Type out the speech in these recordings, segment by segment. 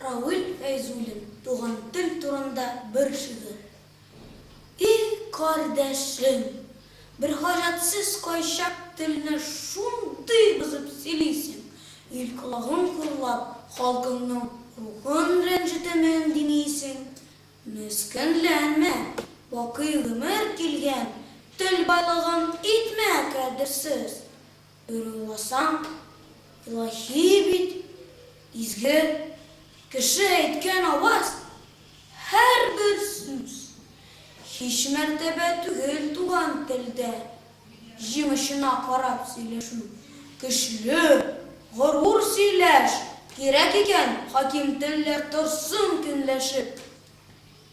Равил Фәйзуллин туган тел турында бер шигырь. И кардәшем, бер хаҗәтсез кайчак телне шундый бозып сөйлисең, ил колагын кырлап, халкыңның рухын рәнҗетәмен димисең. Мескенләнмә, бакый гомер килгән, тел байлыгын итмә кадерсез. Борылмасаң, илаһи бит, изге. Кеше әйткән аваз, һәрбер сүз. Һич мәртәбә түгел туган телдә җимешенә карап сөйләшү. Көчле, горур сөйләш! Кирәк икән, хаким телләр торсын көнләшеп.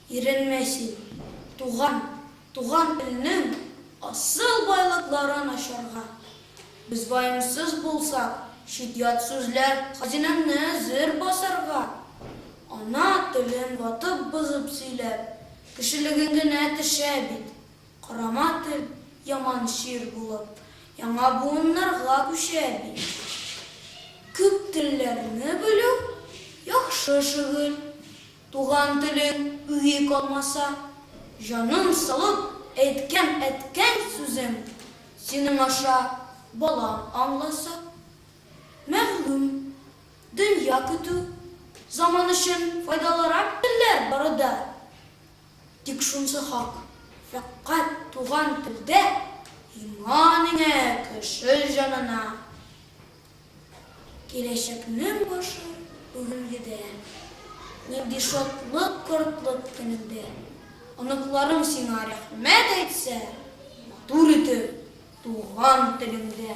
Иренмә син, туган, туган илнең асыл байлыкларын ачарга. Без ваемсыз булсак, чит-ят сүзләр хазинәңне зер басарга. Ана телен ватып-бозып сөйләп, кешелегең генә төшә бит. Карама тел, яман чир булып, яңа буыннарга күчә бит. Күп телләрне белү, яхшы шөгыль. Туган телең үги калмаса, җаның салып әйткән әткәң сүзен синең аша балаң аңласа. Мәгълүм, дөнья көтү, заман өчен файдалырак телләр бары да. Тик шунсы хак, фәкать туган телдә иман иңә кеше җанына. Киләчәкнең башы бүгенгедә. Нинди шатлык кортлык көнеңдә. Оныкларың сиңа рәхмәт әйтсә матур итеп туган телеңдә.